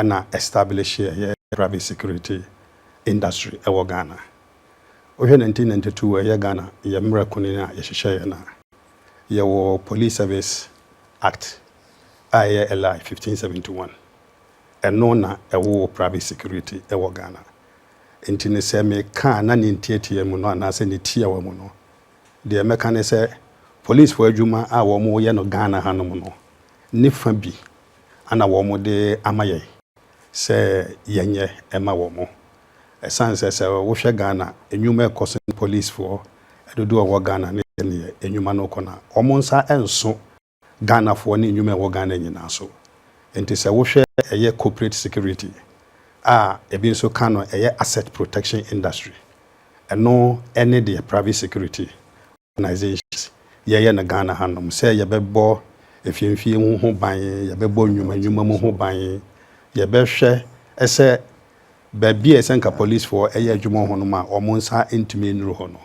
na establish yɛ private security industry wɔ Ghana. Wohwɛ 1992 a ɛyɛ Ghana yɛ mmra kunini a yɛhyehyɛ yɛ no a, yɛwɔ Police Service Act a ɛyɛ LI 1571. Ɛno na ɛwoo private security wɔ Ghana. Nti no sɛ meka a na ne ntiatia mu no anaasɛ ne tiawa mu no, deɛ mɛka ne sɛ, Polisfoɔ adwuma a wɔyɛ no Ghana hanom no, ne fã bi na wɔde ama yɛn sɛ yɛnyɛ mma wɔn. Ɛsiane sɛ sɛ wohwɛ Ghana nnwuma a ɛkɔ so ne polisfoɔ dodoɔ a ɛwɔ Ghana ne sɛdeɛ nnwuma no rekɔ no a, wɔn nsa nso Ghanafoɔ ne nnwuma a ɛwɔ Ghana nyinaa so. Enti sɛ wohwɛ ɛyɛ corporate security a ebi nso ka no ɛyɛ asset protection industry, ɛno ne deɛ private security organisations yɛyɛ no Ghana hanom sɛ yɛbɛbɔ afiemfie mu ho ban, yɛbɛbɔ nnwuma nnwuma mu ho ban, yɛbɛhwɛ sɛ baabi a ɛsɛ nka polisfoɔ yɛ adwuma wɔ hɔ nom a wɔn nsa ntumi nnuru hɔ no,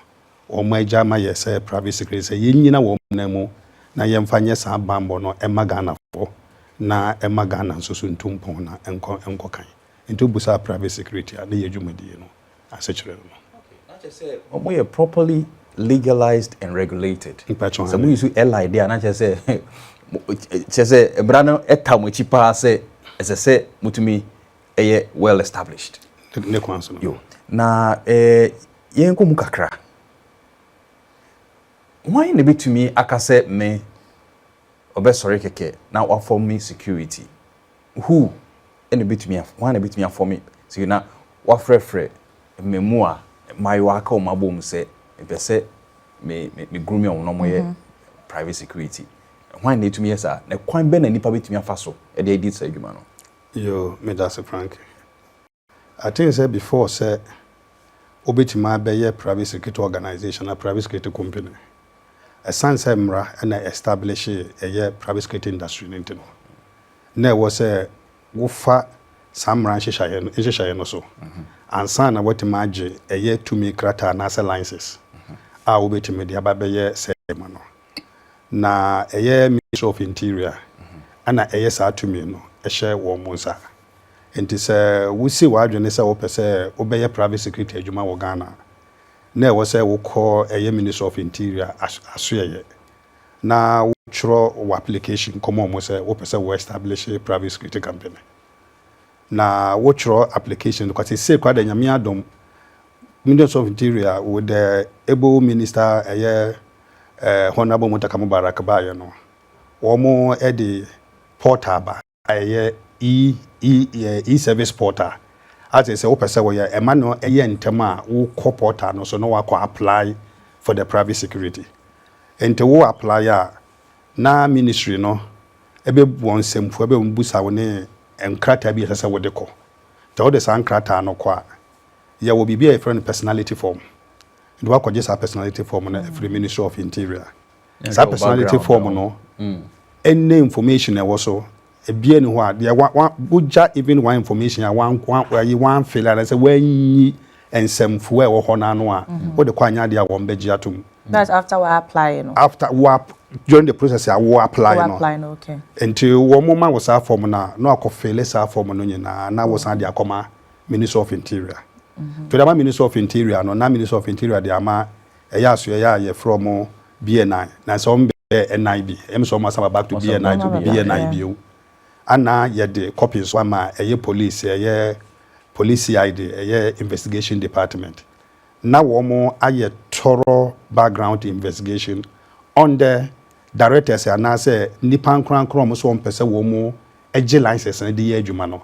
wɔn agya ma yɛ sɛ private security sɛ yɛnnyina wɔn nan mu na yɛmfa nyɛ saa banbɔ no mma Ghanafoɔ na ɛma Ghana nso so ntu mpɔn na ɛnkɔ ɛnkɔ kan. Nti wobusa private security a ne yɛ dwumadie no asekyerɛ no no. Okay, na kyerɛ sɛ ɔmo yɛ properly legalized and regulated. Mpatsɔ hɛn. Sɛ mo use airline deɛ a na kyerɛ sɛ kyerɛ sɛ mmara no ɛta mo akyi paa sɛ ɛsɛ sɛ mo tumi ɛyɛ well established. Ne kwan so no. Yo, na ɛɛ yɛn kɔ mu kakra. Hwan na ebetumi aka sɛ me ɔbɛsɔre kɛkɛ na wafɔm me security? Who na ebetumi af hwan na ebetumi afɔme sei na wafrɛfrɛ mmɛmu a mmaayewa aka wɔn abom sɛ mepɛ sɛ me me me grooming wɔn na wɔyɛ private security hwan na etumi yɛ saa na kwan bɛn na nipa betumi afa so de adi saa adwuma no. Yoo, medase Franke. I think sɛ before sɛ wo bɛtumi abɛyɛ private security organisation anaa private security company ɛsiane sɛ mmara na establish ɛyɛ private security industry no nti no na ɛwɔ sɛ wofa saa mmara nhyehyɛeɛ no nhyehyɛeɛ no so ansa na woatumi agye ɛyɛ tumi krataa anaasɛ license a wobɛtumi de aba bɛyɛ sɛ adwuma no na ɛyɛ Ministry of Interior ɛna ɛyɛ saa tumi no ɛhyɛ wɔn nsa. Enti sɛ wusi w'adwene sɛ wopɛ sɛ wobɛyɛ Private Secretary adwuma wɔ Ghana a, na ɛwɔ sɛ wokɔ ɛyɛ Ministry of Interior asoɛeɛ na wotwerɛ w'application kɔma wɔn sɛ wopɛ sɛ wo establish Private Security Company. Na wotwerɛ application no kɔ. Seesei koraa deɛ Nyame adom, Ministry of Interior with the able minister ɛyɛ eh, Honourable Muntaka Mubarak baeɛ no, wɔn de portal ba. Ɛyɛ e-service portal a te sɛ wopɛ sɛ woyɛ ɛma no yɛ ntɛm a wokɔ portal no so na woakɔ apply for the private security. Nti wo apply a na ministry no bɛ wɔn nsɛmfua bɛ bisa wo ne nkrataa bi a ɛsɛ sɛ wode kɔ. Nti wode saa nkrataa no kɔ a yɛwɔ biribi a yɛfrɛ no personality form. Nti woakɔgye saa personality form no afiri ministry of interior. Saa personality form no ne information a ɛwɔ so, ebiara nni hɔ a deɛ wa wa wogya even one information a wan wan ayi wanfeele anaasɛ wanyi nsɛmfua a ɛwɔ hɔ no ano a wode kɔ anyɛ adeɛ a wɔn bɛgye atom. That's after wa apply no. After wa during the process a wo apply Wo no apply no, okay. nti wɔn ma wo saa form no a na wakɔfeele saa form no nyinaa na wosan de akɔma Ministry of Interior. To de ama Ministry of Interior no na Ministry of Interior de ama ɛyɛ asoɛeɛ a yɛfrɛ ɔmo BNI na sɛ ɔmo bɛyɛ NI bi ɛm sɛ ɔmo asan ba back to BNI to be BNI bio ana yɛde copy nso ama ɛyɛ police ɛyɛ police CID ɛyɛ investigation department na wɔmo ayɛ tɔrɔ background investigation on the directors anaasɛ nnipa nkorankora ɔmo sɛ ɔmo pɛ sɛ wɔmo gye license no de yɛ adwuma no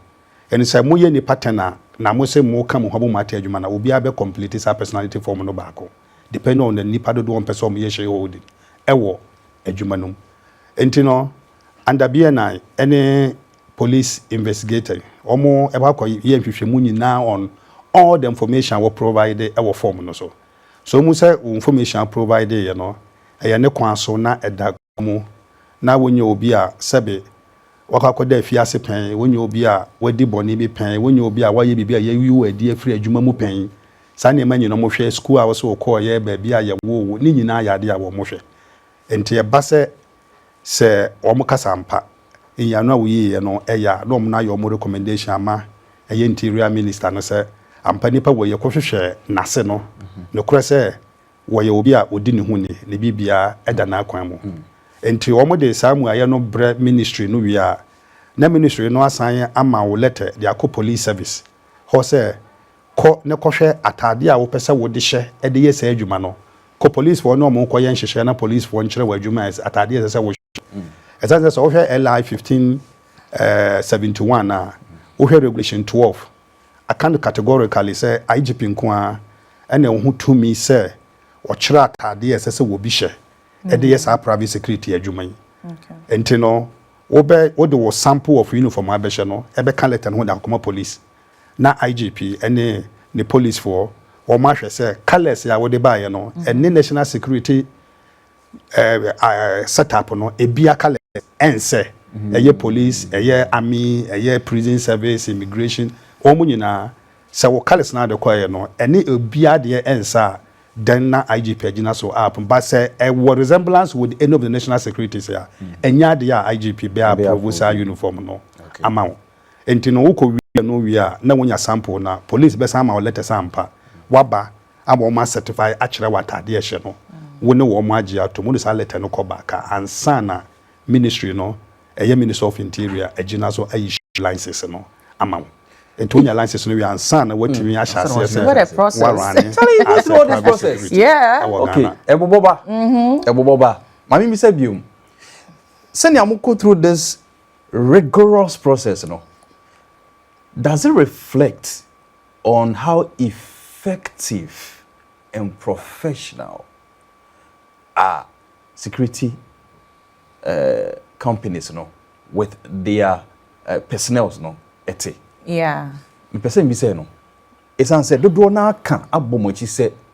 And sɛ mo yɛ nnipa ten a, na mo se mo ka mo ho abom ate adwuma no a, obiara bɛ complete saa personality form no baako depending on the nnipa dodoɔ a wɔpɛ sɛ wɔn yɛ shareholding ɛwɔ adwuma no mu. Nti no under BNI ɛne police investigator wɔn ɛbɛ akɔ yɛ nhwehwɛmu nyinaa on all the information a wɔ provide ɛwɔ form no so. So wohu sɛ wo information a provide yɛ no ɛyɛ ne kwan so na ɛda mu na wonnya obi a sɛbe wakɔ akɔda afiase pɛn, wonnya obi a wadi bɔne bi pɛn, wonnya obi a wayɛ biribi a yɛayi wo adi afiri adwuma mu pɛn. Saa nneɛma nyinaa wɔhwɛ, sukuu a wo sɛ wokɔeɛ, baabi a yɛwoo wo, ne nyinaa yɛ adeɛ a wɔhwɛ. Enti ɛba sɛ sɛ wɔkasa ampa, nyiano a woyiiɛ no yɛ a, na wɔn ayɛ wɔn recommendation ama ɛyɛ Interior Minister no sɛ ampa nipa wei yɛkɔhwehwɛ n'ase no, nokorɛ sɛ Wɔyɛ obi a odi ne ho ni, ne biribiara da n'akwan mu. Enti wɔde saa mmuaeɛ no brɛ ministry no wie a, na ministry no asan ama wo lɛtɛ de akɔ Police Service hɔ sɛ, Kɔ na kɔhwɛ ataadeɛ a wopɛ sɛ wode hyɛ de yɛ saa adwuma no. Kɔ policefoɔ ne wɔn nkɔyɛ nhyehyɛeɛ na policefoɔ nkyerɛ wo adwuma a ɛsɛ, ataadeɛ a ɛsɛ sɛ wohyɛ. Ɛsiane sɛ sɛ wohwɛ LI 1571 a, wohwɛ Regulation 12, Aka no categorically sɛ IGP nko ara na ɛwɔ ho tumi sɛ wɔkyerɛ ataadeɛ a ɛsɛ sɛ wɔbi hyɛ de yɛ saa private security adwuma yi. Nti no, wobɛ, wode wo sample of uniform a bɛhyɛ no bɛka letter no ho de akɔma police na IGP ne ne policefoɔ wɔahwɛ sɛ colours a wode baeɛ no ɛne national security set up no ebia colors ɛnsɛ ɛyɛ police ɛyɛ army ɛyɛ prison service immigration wɔn nyinaa sɛ wɔ colors na de kɔ yɛ no ɛne obia deɛ ɛnsɛ a then na IGP agyina so up but sɛ ɛwɔ resemblance with any of the national securities a ɛnyɛ adeɛ a IGP bɛ approve saa uniform no ama wo nti no wokɔ wie no wie a na wonya sample na police bɛsan ama wo letters ampa waba ama wɔn a certify akyerɛ w'ataade a ɛhyɛ no, wo ne wɔn agye atom, wode saa lɛtɛ no kɔ baka ansa na ministry no, ɛyɛ ministry of interior agyina so a issue license no ama wo. Nti wonya license no wie ansa na watumi ahyɛ aseɛ sɛ What a process. warane Charlie, you go as through a all this private process. security Yeah. ɛwɔ Okay, Ghana. ɛbobɔ ba. Ɛbobɔ ba. Maame mi sɛ biom. Sɛnea mo go through this rigorous process no, does it reflect on how effective and professional are security companies no with their personnels no te. Mepɛ sɛ mibisa no, esiane sɛ dodoɔ no ara ka abɔ mo akyi sɛ.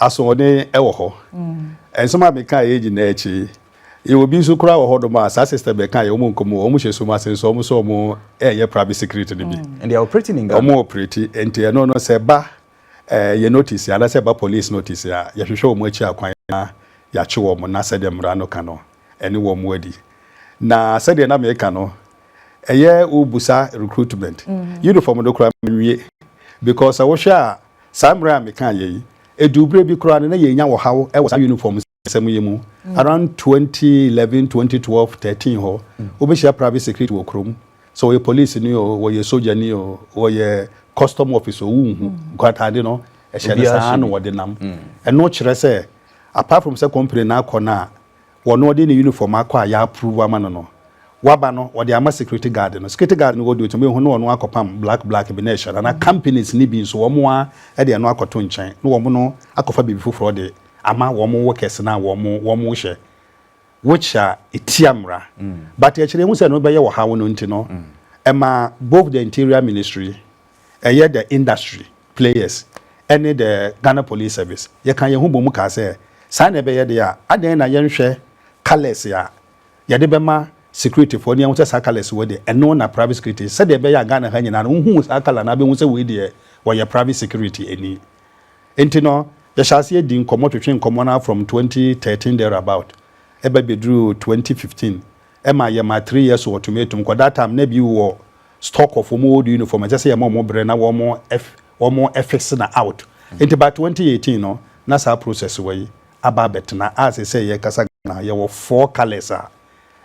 Asoɔden wɔ hɔ. Nsɛm a mekãa yɛ nyina akyi, yɛwɔ bi nso koraa wɔ hɔnom a saa sister bɛkãa yɛ, wɔn nkɔ mu, wɔn hyɛ sum ase nso wɔn sɛ wɔn reyɛ private security no bi. And they are operating in Ghana. Wɔn operate, nti ɛno no sɛ ɛba yɛn notice anaa sɛ ɛba police notice a, yɛhwehwɛ wɔn akyi akwan na yɛakye wɔn na sɛdeɛ mmara no ka no, ɛne wɔn adi. Na sɛdeɛ na meka no, ɛyɛ wobusa recruitment, uniform no koraa manwie, because sɛ wohwɛ a, Saa mmerɛ a mekaa yei, ɛduu berɛ bi koraa no, na yɛrenya ɔhaw wɔ saa yunifɔm nsɛm yi mu. Around twenty eleven, twenty twelve, thirteen hɔ, wobɛhyia private security wɔ kurom. Sɛ ɔyɛ polisini o, ɔyɛ sogyani o, ɔyɛ custom officer o, wonhu. Nkwaataade no, ɛhyɛ no saa na wɔde nam. Ɛno kyerɛ sɛ, apart from sɛ company no akɔ no a, Wɔn no ɔde ne uniform akɔ a y'approve ama no no, waba no ɔde ama security guard no, security guard no wɔ deɛ ɔtumi hu na ɔno akɔpam black black bi na ɛhyɛ no anaa companies no bi nso wɔn ara de ɛno akɔto nkyɛn na wɔn no akɔfa biribi foforɔ de ama wɔn workers no a wɔn wɔn hyɛ which a ɛtia mmara but akyire yɛhu sɛ ɛno bɛyɛ ɔhaw no nti no ɛma both the interior ministry ɛyɛ the industry players ne the Ghana Police Service yɛkaa yɛn ho bɔɔ mu kaa sɛ saa na ɛbɛyɛ deɛ a, adɛn na yɛnhwɛ colours a yɛde bɛma securityfoɔ ne yɛahu sɛ saa colours wei deɛ ɛno na private security sɛdeɛ ɛbɛyɛ a Ghana ha nyinaa no wohuu saa colour no abɛhu sɛ wei deɛ wɔyɛ private security ni. Nti no yɛhyɛ aseɛ di nkɔmmɔ twetwe nkɔmmɔ no ara from 2013 thereabout ɛba bɛduruu 2015 Ɛma yɛma three years wɔ tumi tom kɔ that time na ebi wɔ stock of wɔn old uniform ɛsɛ sɛ yɛma wɔn brɛ na wɔn wɔn fix no out nti by twenty eighteen no na saa process wɔ yi aba abɛtena a sɛsɛ yɛ kasa Ghana yɛwɔ four colours a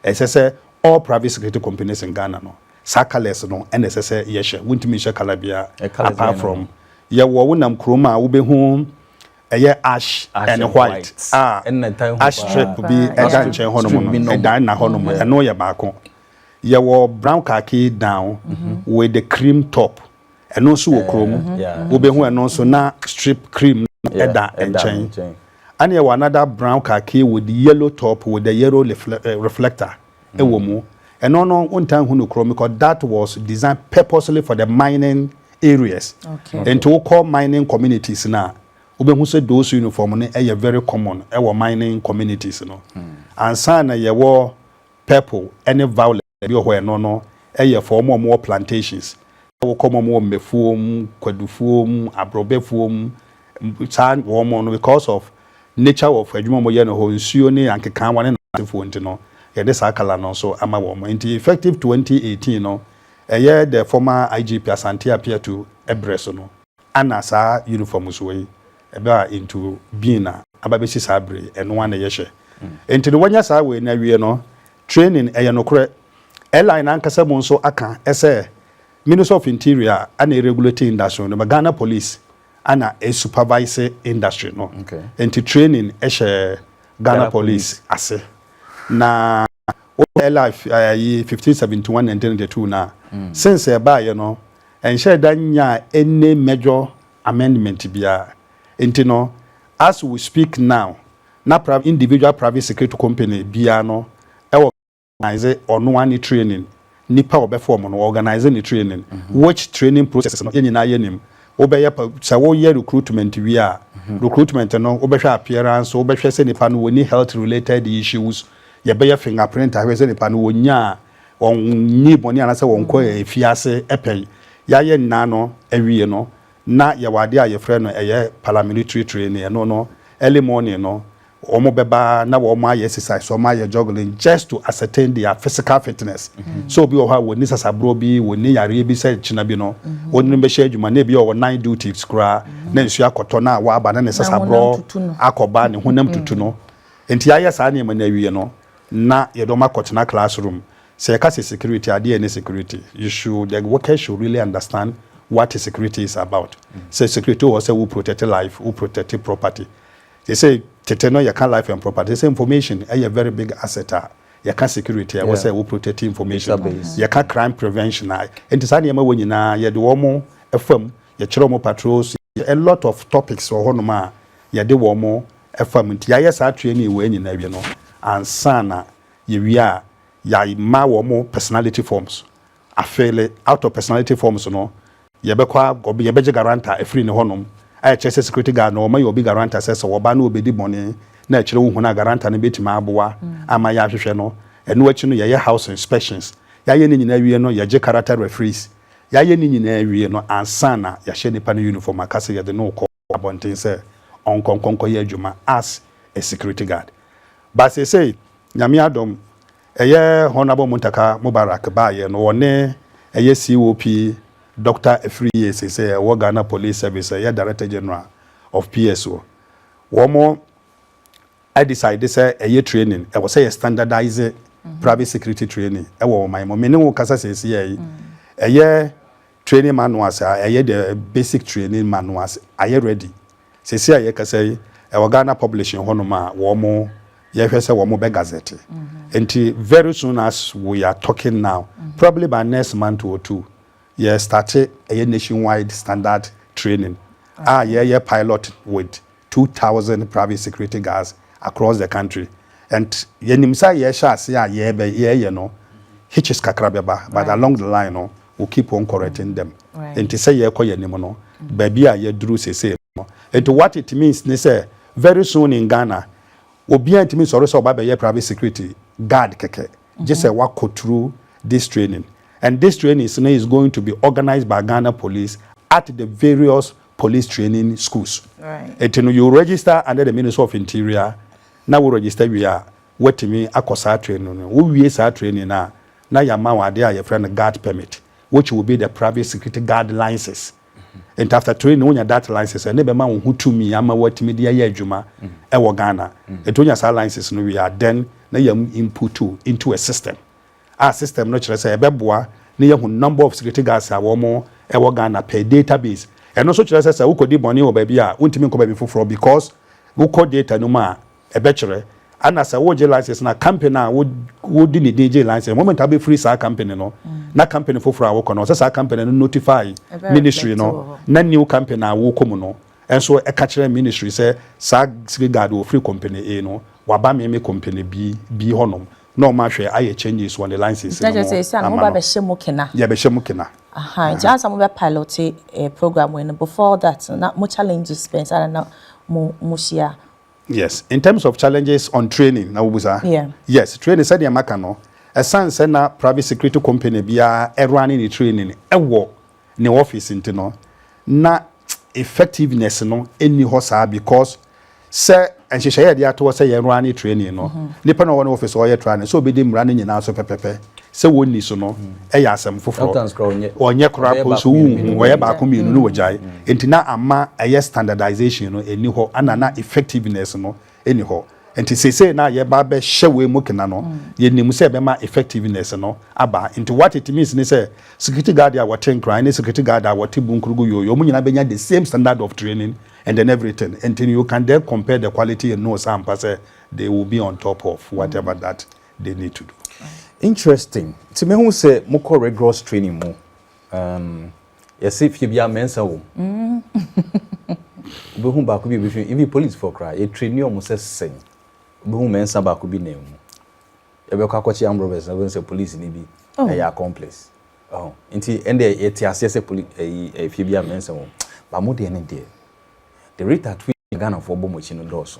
ɛsɛ sɛ all private security companies in Ghana no saa colours no ɛna ɛsɛ sɛ yɛhyɛ wontumi nhyɛ colour biara apart from yɛwɔ wonam kurom a wobɛhu ɛyɛ ash and white a ash strip bi ɛda nkyɛn hɔ nom no ɛda ɛna hɔ nom ɛno yɛ baako yɛ wɔ brown khaki down mhm. with the cream top ɛno nso wɔ kurom wobɛhu ɛno nso na strip cream ɛda nkyɛn ɛne yɛ wɔ another brown khaki with yellow top with the yellow eh, reflector. ɛwɔ mu. Ɛno no wontaa hu no kuro mu because that was designed purposely for the mining areas. Nti wokɔ mining communities no a wobɛhu sɛ those uniform no ɛyɛ very common ɛwɔ mining communities no. Hmm. Ansa na yɛwɔ purple ɛne violet bi wɔ hɔ ɛno no ɛyɛ for wɔn a wɔwɔ plantations. Wokɔ mom wɔ mmɛfuo mu, kwadufuo mu, abrobɛfuo mu, saa wɔn mo no because of nature of adwuma wɔn yɛ no hɔ, nsuo ne ankekaa wɔn ne naasefoɔ nti no, yɛde saa colour no nso ama wɔn. Nti effective 2018 no, ɛyɛ the former IGP Asante Apeatu ɛberɛ so no, ana saa uniform soɔ yi ɛbɛ a into being a aba bɛsi saa bere yi, ɛno ara na yɛhyɛ. Nti no wɔnya saa wei no awie no, Training, ɛyɛ nokorɛ. Airline no ankasa mu nso aka sɛ Ministry of Interior na ɛregulate industry no but Ghana Police na ɛsupervise industry no. Nti training hyɛ Ghana Police ase. Na wohwɛ airline fi ayi fifteen seventy one nineteen ninety two no a, since ɛbaeɛ no, ɛnhyɛɛ da nyaa any major amendment biara. Nti no, as we speak now, Na prav individual private security company biaa no wɔ organise ɔnoaa ne training nipa ɔbɛfa ɔmo no wɔ organise ne training which training processes no yɛ nyinaa yɛ nim wo bɛyɛ pa sɛ wo yɛ recruitment wie a recruitment no wo bɛhwɛ appearance wo bɛhwɛ sɛ nipa no wɔ ni health related issues yɛ bɛyɛ finger print ahwɛ sɛ nipa no wɔ nyaa wɔn nyi bɔne anasɛ wɔn kɔ afiase pɛn yɛ ayɛ nyinaa no awie no na yɛwɔ adeɛ a yɛfrɛ no ɛyɛ paramilitary training ɛno no early morning no wɔn bɛba na wɔn ayɛ exercise wɔn ayɛ juggling just to ascertain their physical fitness sɛ obi wɔ hɔ a wɔnni sasaborɔ bi wɔnni yareɛ bi sɛ kyena bi no wɔn no bɛhyɛ adwuma na ebi wɔ hɔ nine duties koraa na nsuo akɔtɔ na wɔaba na ne sasaborɔ akɔba ne honam tutu no nti ayɛ saa nneɛma no awie no na yɛde wɔn akɔtena class room, sɛ yɛka sɛ security a deɛ ne security? You should, the workers should really understand what security is about. Sɛ security wɔ hɔ sɛ wo protect life, wo protect property. Seesei tete no yɛka life and property, seesei information yɛ very big asset a yɛka security a ɛwɔ sɛ wo protect information, yɛka crime prevention a, enti saa nneɛma wɔ nyinaa yɛde wɔn fa mu, yɛkyerɛ wɔn patrols, a lot of topics wɔ hɔnom a yɛde wɔn. ɛfam nti yɛayɛ saa training wei nyinaa wie no ansa na yɛwie a yɛama wɔn personality forms afeele out of personality forms no yɛbɛkɔ yɛbɛgye guarantor afiri ne hɔnom a ɛkyerɛ sɛ security guard no wɔma yɛ obi guarantor sɛ sɛ wɔba no wɔbɛdi bɔne na akyire wo hunu a guarantor no bɛtumi aboa mm. ama yɛahwehwɛ no ɛno akyi no yɛyɛ house inspections yɛayɛ ne nyinaa wie no yɛgye character referees yɛayɛ ne nyinaa wie no ansa na yɛahyɛ nipa no uniform aka sɛ yɛde no kɔ abɔnten sɛ ɔnkɔ nkɔnkɔyɛ adwuma as a security guard but seesei Nyame adom ɛyɛ Honourable Muntaka Mubarak baayɛ no ɔne ɛyɛ COP Doctor Afriyie seesei ɛwɔ Ghana Police Service ɛyɛ Director General of PSO wɔn adecide sɛ ɛyɛ training ɛwɔ sɛ yɛ standardise private security training ɛwɔ ɔman mu mene wo kasa seesei ɛyɛ Training manuals a ɛyɛ deɛ basic training manuals ayɛ ready sɛsɛ a yɛkasa yi ɛwɔ Ghana publishing hɔ nom a wɔn yɛhwɛ sɛ wɔn bɛ gazette nti very soon as we are talking now probably by next month or two yɛ starte ɛyɛ nationwide standard training a yɛyɛ pilot with two thousand private security guards across the country and yɛnim sɛ yɛhyɛ ase a yɛɛyɛ no hitches kakra bɛba but along the line no we keep on correcting them nti sɛ yɛɛkɔ yɛn anim no baabi a yɛduru sesei no nti what it means ne sɛ very soon in Ghana obiara ntumi nsɔre sɛ ɔba bɛyɛ private security guard kɛkɛ gye sɛ wakɔ through this training and this trainings no is going to be organised by Ghana police at the various police training schools nti no you register under the ministry of interior na wo register wie a woatumi akɔ saa training no wo wie saa training no a na yɛama wo adeɛ a yɛfrɛ no guard permit which will be the private security guard license Nti after training wonya dat license a, na ɛbɛma wo ho tumi ama woatumi de ayɛ adwuma wɔ Ghana. Nti wonya saa license no wie a, then na yɛn input wo into a system a system no kyerɛ sɛ ɛbɛboa na yɛahu number of security guards a wɔwɔ Ghana per data base. Ɛno nso kyerɛ sɛ sɛ wokɔdi bɔne wɔ baabi a, wontumi nkɔ baabi foforɔ because wokɔ data no mu a, Ɛbɛkyerɛ. Ana sɛ wogye license na company a wode ne din gyee license, moment a wobɛfiri saa company no, na company foforɔ a wokɔ no, ɛsɛ sɛ saa company no notify ministry no, na new company a wokɔ mu no nso ka kyerɛ ministry sɛ saa siri guard a ɔfiri company A no, waba me me company B B hɔnom na wɔahwɛ ayɛ changes wɔ ne license no mu ama no. Yɛbɛhyɛ mo kena. Aha, nti ansa mobɛ pilote program wei no, before that no, na mo challenges bɛn saa na na mohyia? Yes, in terms of challenges on training na wobusa? Yeah. Yes, training sɛdeɛ maka no, ɛsan sɛ na private security company biara ɛrane ne training ɛwɔ ne office nti no, na effectiveness no ɛnni hɔ saa because sɛ nhyehyɛeɛ yɛde ato hɔ sɛ yɛrane training no, mm-hmm. nipa na ɔwɔ ne office ɔyɛ training sɛ obɛdi mmara no nyinaa so pɛpɛpɛ. sɛ wɔnni so no yɛ asɛm foforɔ. Wɔnyɛ koraa mpo nso wonhu, wɔyɛ baako mmienu na wɔgyae. Enti na ama ɛyɛ standardization no nni hɔ ɛna na effectiveness no nni hɔ. Enti seesei no a yɛreba abɛhyɛ wei mu kena no, yɛnim sɛ ɛbɛma effectiveness no aba. Enti what it means ne sɛ security guard a wɔte Nkran ne security guard a wɔte Bunkrugu Yoyo, wɔn nyinaa bɛnya the same standard of training and then everything. Enti you can then compare the quality and know sɛ ampa sɛ they will be on top of whatever that de ne to do. Interesting. Nti me hu sɛ mo kɔ rigorous training mu. Um, yɛse fie biara mɛnsa wɔ mu. Mm. Wobɛhu baako bi a ɛbɛhwɛ, even policefoɔ koraa, yɛtrani ɔmo sɛ sɛn. Wobɛhu mɛnsa baako bi nan mu. Yɛbɛkɔ akɔkye armed robbers na wobɛhu sɛ police ni bi oh. ɛyɛ accomplice. Oh. Nti ɛnde yɛte aseɛ sɛ poli, ɛyi, eh, eh, fie biara mɛnsa wɔ mu. Ba mo deɛ ne deɛ. The rate at which Ghanafoɔ bɔ mo akyi no dɔɔso.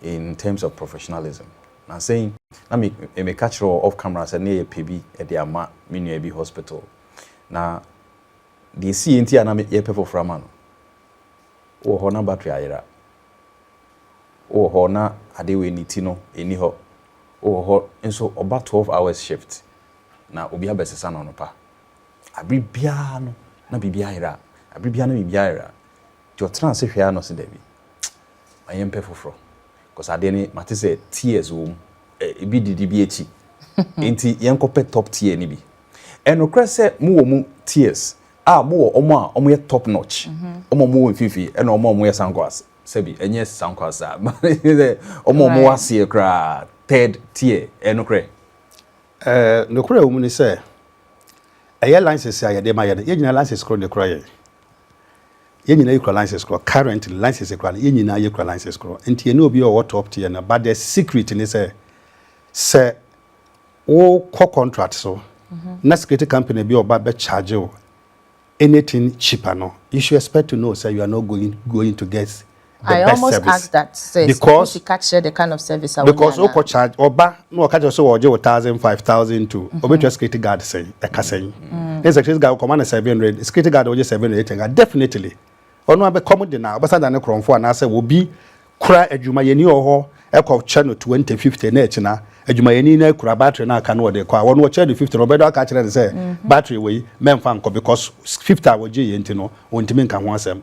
in terms of professionalism. Nansa yi na me meka kyerɛ wɔ off camera sɛ ne yɛ pɛ bi de ama me nua bi hospital na deɛ ɛsiiɛ nti a na me yɛpɛ foforɔ ama no wowɔ hɔ na battery ayera wowɔ hɔ na ade wei ne ti no ɛni hɔ wowɔ hɔ nso ɔba 12 hours shift na obi abɛsesa no anɔpa abere biara no na biribi ayera abere biara na biribi ayera nti ɔtena ase hwɛ a na ɔse dabi Ma yɛn pɛ foforɔ cause adeɛ no mate sɛ tears wɔ mu ebi didi bi akyi nti yɛn kɔ pɛ top tier no bi ɛnokorɛ sɛ mo wɔ mu tears a mo wɔ ɔmo a ɔmo yɛ top notch mhm. ɔmo ɔmo wɔ mfimfini ɛna ɔmo ɔmo yɛ sankwas sɛbi ɛnyɛ sankwas a ɔmo ɔmo wɔ aseɛ koraa third tier ɛnokorɛ ɛɛ nokorɛ wɔ mu ni sɛ ɛyɛ license a yɛde ma yɛn yɛn nyinaa license koro ne kura yɛn. Yɛn nyinaa yɛ kura license korɔ currently license kura no yɛn nyinaa yɛ kura license korɔ nti yɛne obi a ɔwɔ top tier no but the secret ne sɛ sɛ wo kɔ contract so mhm. na security company bi ɔba bɛ charge wo anything cheaper no you should expect to know sɛ you are not going going to get the I best service. I almost asked that sɛ because sɛ ka kyerɛ the kind of service a because o kɔ charge ɔba na ɔka kyerɛ sɛ ɔgye wɔ thousand five thousand two mm-hmm. ɔbɛtua security guard sɛn ɛka sɛn mm. ne security guard ɔkɔma no seven hundred security guard ɔgye seven hundred ɛtɛnka definitely ɔno abɛ kɔm de na ɔbɛsan da ne korɔnfo anaasɛ obi kura adwumayɛni wɔ hɔ ɛkɔ kyɛ no twenty fifty na ɛkyina adwumayɛni na kura battery na aka no ɔde kɔ a wɔn wɔkyɛ no fifty na ɔbɛdɔ aka kyerɛ no sɛ mm-hmm. battery wɔ yi mɛnfa nkɔ because fifty a wɔgye yɛn ti no wɔntumi nka ho asɛm.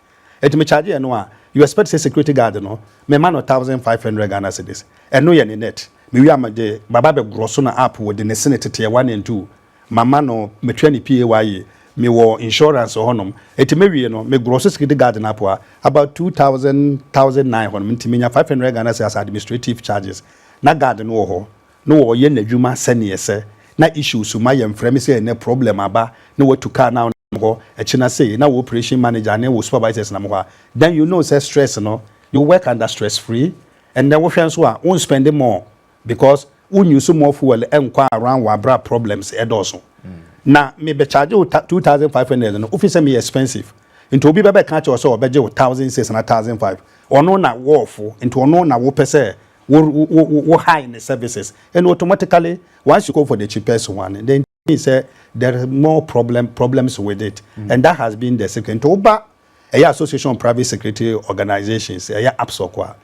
Enti me charge ɛno a, you expect sɛ security guard no me ma no thousand five hundred Ghana cedis. Ɛno yɛ ne net. Me wie a me de baba bɛ gorɔ so na app wɔ de ne sene teteɛ one and two. Ma ma no, me tua ne PAYE. Me wɔ insurance wɔ hɔ nom. Enti me wie no, me gorɔ so security guard no app a, about two thousand, thousand nine hɔ nom. Enti me nya five hundred Ghana cedis as administrative charges. Na guard no wɔ hɔ. na ɔyɛ nadwuma sɛneɛ ɛsɛ na issues ma yɛ mfrɛ me sɛ ɛnɛ problem aba na watu car na nam hɔ ɛkyena sei na wo operation manager ne wo supervisors nam hɔ a then you know sɛ stress no you work under stress free ɛnɛ wohwɛ nso a wo nspend more because wo use more fuel nkɔ around wɔ abra problems ɛdɔɔso na me bɛ charge wo 2500 no wofi sɛ meyɛ expensive nti obi bɛbɛ ka kyɛ wɔ sɛ ɔbɛgye wo 1000 six na 1005 ɔno na wɔɔfo nti ɔno na wopɛ sɛ Wo wo wo wo high ne services and automatically once you go for the cheapest one then it means sɛ there is more problem problems with it and that has been the secret nti woba ɛyɛ association of private security organisations ɛyɛ APSOC a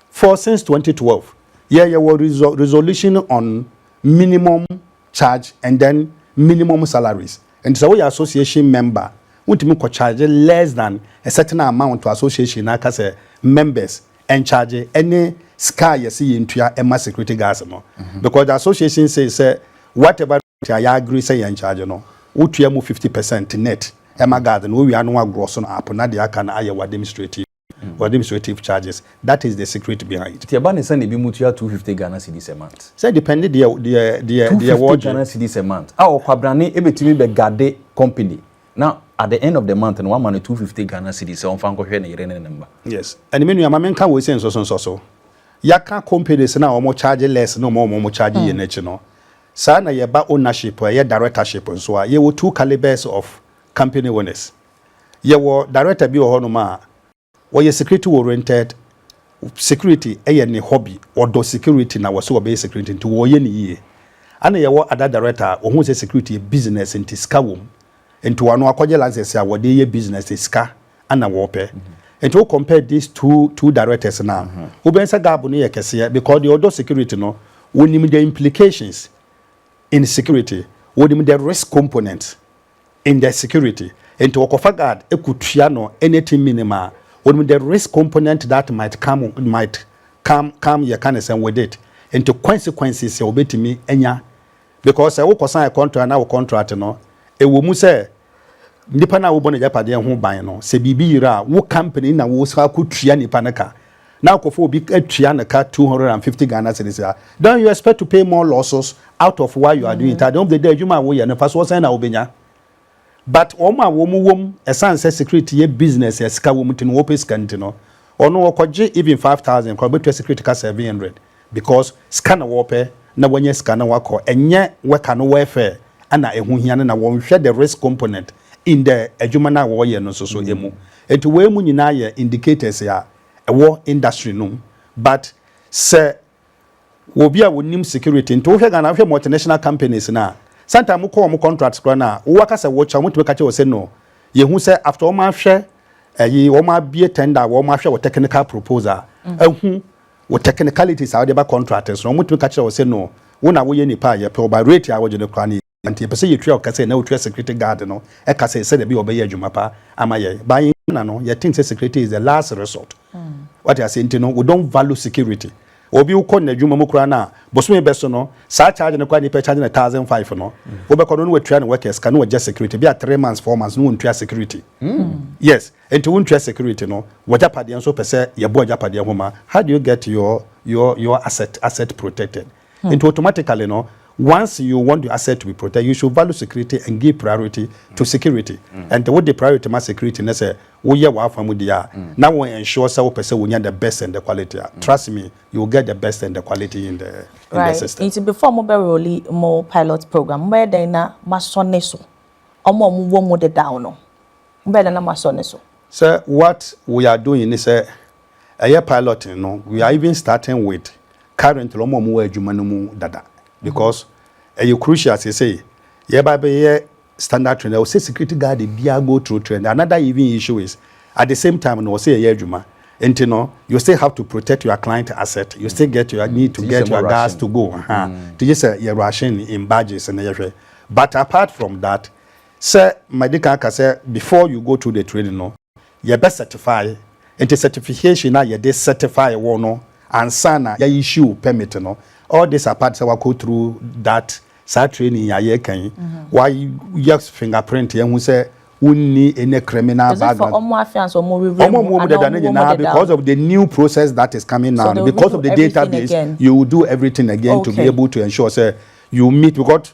for since 2012 yɛ yɛwɔ resol resolution on minimum charge and then minimum salaries nti sɛ woyɛ association member wontumi kɔ charge less than a certain amount to association na aka sɛ members in charge ɛne sika a yɛsi yɛn tua ɛma security guards no because the association say sɛ whatever rate a yɛ agree sɛ yɛn charge no wotua mu fifty percent net ɛma guard no wowia no wagorɔ so no app na deɛ aka no ayɛ w'administrative administrative charges that is the secret behind. Nti ɛba ne sɛ na ebi mu tua two fifty Ghana cedis a month. Sɛ depende deɛ deɛ deɛ deɛ wɔgye. Two fifty Ghana cedis a month a ɔkwabrane ebetumi bɛ gade company Na at the end of the month no wama no two fifty Ghana cedis sɛ ɔmfa nkɔhwɛ ne yere ne ne mma. Yes ɛne me nua ma me nka wei sɛ nsɔso nsɔso yɛaka companies no a wɔn charge less ne wɔn a wɔn charge yie no akyi no saa na yɛba ownership a ɛyɛ directorship nso a yɛwɔ two calibres of company owners yɛwɔ director bi wɔ hɔ nom a Wɔyɛ security oriented, security yɛ ne hobby, ɔdɔ security na wɔse wɔbɛyɛ security nti wɔyɛ no yie. Ɛna yɛwɔ ada director a ɔhuu sɛ security yɛ business nti sika wɔ mu nti ɔno akɔgye license a wɔde yɛ business nti sika na wɔpɛ. Nti wo compare these two two directors no a, wobɛhu sɛ gap no yɛ kɛseɛ because deɛ ɔdɔ security no, ɔnim the implications in security, ɔnim the risk component in the security nti wɔkɔfa guard kɔtua no anything minim a wɔnim the risk component that might come might come come yɛka ne sɛn with it nti consequences a wɔbɛtumi anya because sɛ wokɔ sign contract na wo contract no ɛwɔ mu sɛ nipa no a wobɔ no agyapadeɛ ho ban no sɛ biribi yera a wo company na wo sa kɔtua nipa no ka na akɔfa obi atua ne ka two hundred and fifty Ghana cedis a, don't you expect to pay more losses out of what you are doing it at the end of the day adwuma a woyɛ no mfasoɔ sɛn na wobɛnya? But wɔn a wɔn wɔm ɛsan sɛ security yɛ business a sika wɔm nti no wɔpɛ sika nti no ɔno ɔkɔgye even five thousand koraa ɔbɛtua security ka seven hundred Because sika na wɔpɛ na wanya sika na wakɔ ɛnyɛ worker no welfare na ɛho hia no na wɔnhwɛ the risk component in the adwuma no a wɔyɛ no nso so mu. Nti wei mu nyinaa yɛ indicators a ɛwɔ industry no mu but sɛ wɔ obi a ɔnim security nti wohwɛ Ghana wohwɛ multinational companies no a sometime mo kɔ wɔn contracts koraa no a wo aka sɛ wokyɛ wɔn tumi ka kyɛ wɔ sɛ no yɛhu sɛ after wɔn ahwɛ ɛyi wɔn abie tender a wɔn ahwɛ wɔ technical proposal a ahu Wo technicalities a wode ba contract so no wɔtumi ka kyerɛ wo sɛ no wo na woyɛ nipa a yɛpɛ wo but rate a wogye no koraa no yɛ nti yɛpɛ sɛ yɛtua wo ka sɛ na wotua security guard no ka sɛ sɛdeɛ ɛbɛyɛ ɔbɛyɛ adwuma pa ama yɛn but in Ghana no yɛ think sɛ security is the last resort wate aseɛ nti no we don't value security obi wokɔ n'adwuma mu koraa no a bosome bɛso no saa charge no koraa nipa charge no thousand five no wobɛkɔ no na watua ne workers ka na wagya security bi a three months four months no wɔntua security yes Nti wontwɛ security no w'agyapadeɛ nso pɛ sɛ yɛbɔ agyapadeɛ ho ma how do you get your your your asset asset protected nti automatically no once you want your asset to be protected you should value security and give priority to security nti wode priority ma security ne sɛ woyɛ w'afa mu deɛ a na wo ensure sɛ wopɛ sɛ wonya the best and the quality a trust me you will get the best and the quality in the in the system. Nti before mo bɛ role mo pilot program mo bɛyɛ dɛn na mo asɔ ne so ɔmo a ɔmo wɔ mu dedaw no Ebɛn na na moasɔ no so? Sɛ what we are doing ne sɛ ɛyɛ piloting no, we are even starting with currently wɔn a wɔwɔ adwuma no mu dada because ɛyɛ crucial seesei yɛba bɛyɛ standard training ɛwɔ sɛ security guard biara go through training another even issue is at the same time no wɔ sɛ yɛyɛ adwuma nti no you still have to protect your client asset you still get your need to get your gas to go ha nti gye sɛ yɛ rushing in badges na yɛhwɛ but apart from that Sɛ madi kan aka sɛ before you go through the training no yɛbɛ certify nti certification a yɛde certify wo no ansa na yɛ issue wo permit no all this apart sɛ wakɔ through that saa training a yɛreka yi wayɛ finger print yɛahu sɛ wonni any criminal background ɔmo a wɔwɔ mu dada no nyinaa because of the new process that is coming now no because of the database you will do everything again to be able to ensure sɛ you meet because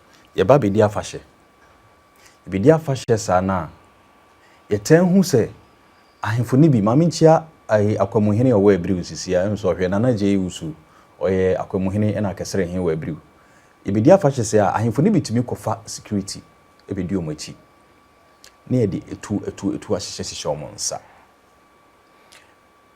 Yɛba bɛdi afahyɛ. Yɛbɛdi afahyɛ saa no a, yɛtaa hu sɛ ahemfo no bi, ma menkyia ayi Akwamuhene a ɔwɔ Abiriw nsisi a, nso ɔhwɛ Nana Agyei Owusu, ɔyɛ Akwamuhene ɛna Akɛsɛrɛ he wɔ Abiriw. Yɛbɛdi afahyɛ sɛɛ a, ahemfo no bi tumi kɔfa security bɛdi wɔn akyi ne yɛde atuo atuo atuo ahyehyɛ hyehyɛ wɔn nsa.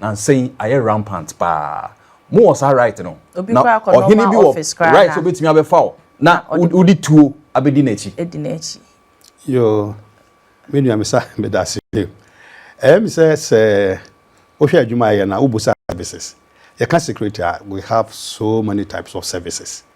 Nansa yi ayɛ rampant paa. Mo wɔ saa right no? Na ɔhene bi wɔ right sɛ obetumi abɛfa wo na wode tuo abedi n'akyi? Yoo, me nua Mesa, medase. Ɛyɛ me sɛ sɛ wohwɛ adwuma a yɛyɛ no a, wubu saa services. Yɛka security a, we have so many types of services.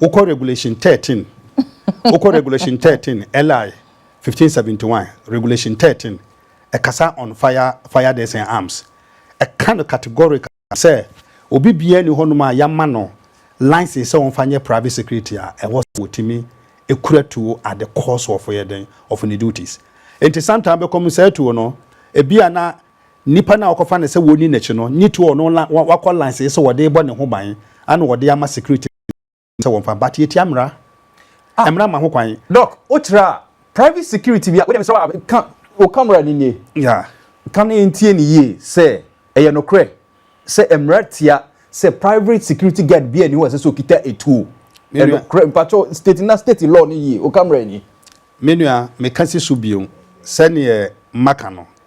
Wokɔ Regulation thirteen, wokɔ Regulation thirteen, LI fifteen seventy one, Regulation thirteen, ɛkasa on fire, fire deaths and arms. Ɛka no categorically sɛ obi biara nni hɔnom a yɛama no license sɛ ɔmfa nyɛ private security a ɛwɔ sɛ ɔtumi kura tuo at the cost of ɛyɛ dɛn, of ne duties. Enti sometimes bɛkɔ mu saa tuo no, ebia na Nnipa no a wɔkɔfa no sɛ wɔnni n'akyi no nye too ɔno la wakɔ lansee sɛ wɔde rebɔ ne ho ban ana wɔde ama security no sɛ wɔmfa but yɛtia mmara a mmara ma ho kwan. Doc, wo tra private security bi a, wo deɛ mesrɛ wo a ka wo camera no nie. Yeah. Ka na yɛntie no yie sɛ ɛyɛ nokorɛ sɛ mmara tia sɛ private security guard biara nni hɔ a ɛsɛ sɛ ɔkita atuo. Me nua. Ɛnokorɛ, mpakyɛw state na state law no yie, wo camera nie. Me nua, meka si so bio, sɛdeɛ maka no,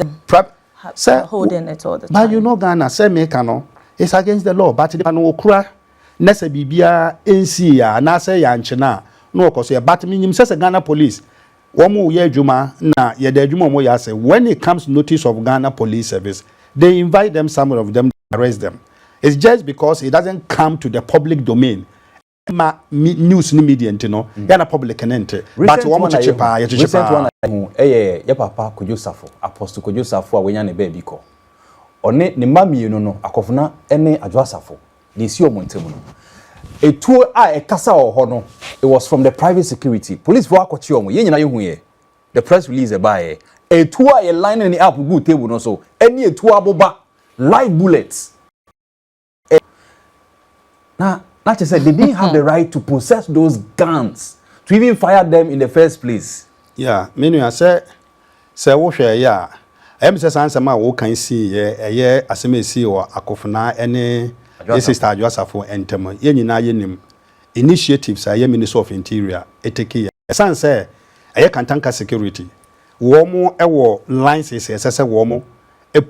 them Prab, sɛ, are holding it all the time. But you know Ghana, sɛ meka no, it's against the law but nipa no ɔkura na sɛ biribiara nsii a anaasɛ yɛankye no a na ɔkɔ so yɛ but menim sɛ sɛ Ghana police wɔyɛ adwuma na yɛda adwuma a wɔyɛ ase when it comes notice of Ghana police service they invite them some of them they arrest them it's just because it doesn't come to the public domain ɛma me news ne media nti no mm. yɛ na public ne nte but wɔn kyekye paa yɛ kyekye paa. recent one ayi ho ɛyɛ yɛ papa Kojo Safo apostle Kojo Safo a wɔnya ne baabi kɔ ɔne ne mma mmienu no akɔfona ɛne Adwo Asafo na esi wɔn ntam no etuo a ɛkasa wɔ hɔ no it was from the private security police fo akɔkye wɔn yɛn nyinaa yɛ hu yɛ the press release ɛbaa yɛ etuo a yɛ line ne app gu table no so ɛne etuo aboba live bullets. na na kyerɛ sɛ they didn't have the right to possess those guns to even fire them in the first place. ya me nua sɛ sɛ wohwɛ ɛyɛ a ɛyɛ me sɛ saa nsɛm a wokan sii yɛ ɛyɛ asɛm a esii wɔ akofena ɛne yɛ sister adwo asafo ɛntɛm yɛ nyinaa yɛ nim initiatives a ɛyɛ ministry of interior eteki yɛ ɛsan sɛ ɛyɛ kantanka security wɔn ɛwɔ lines ɛsɛ sɛ wɔn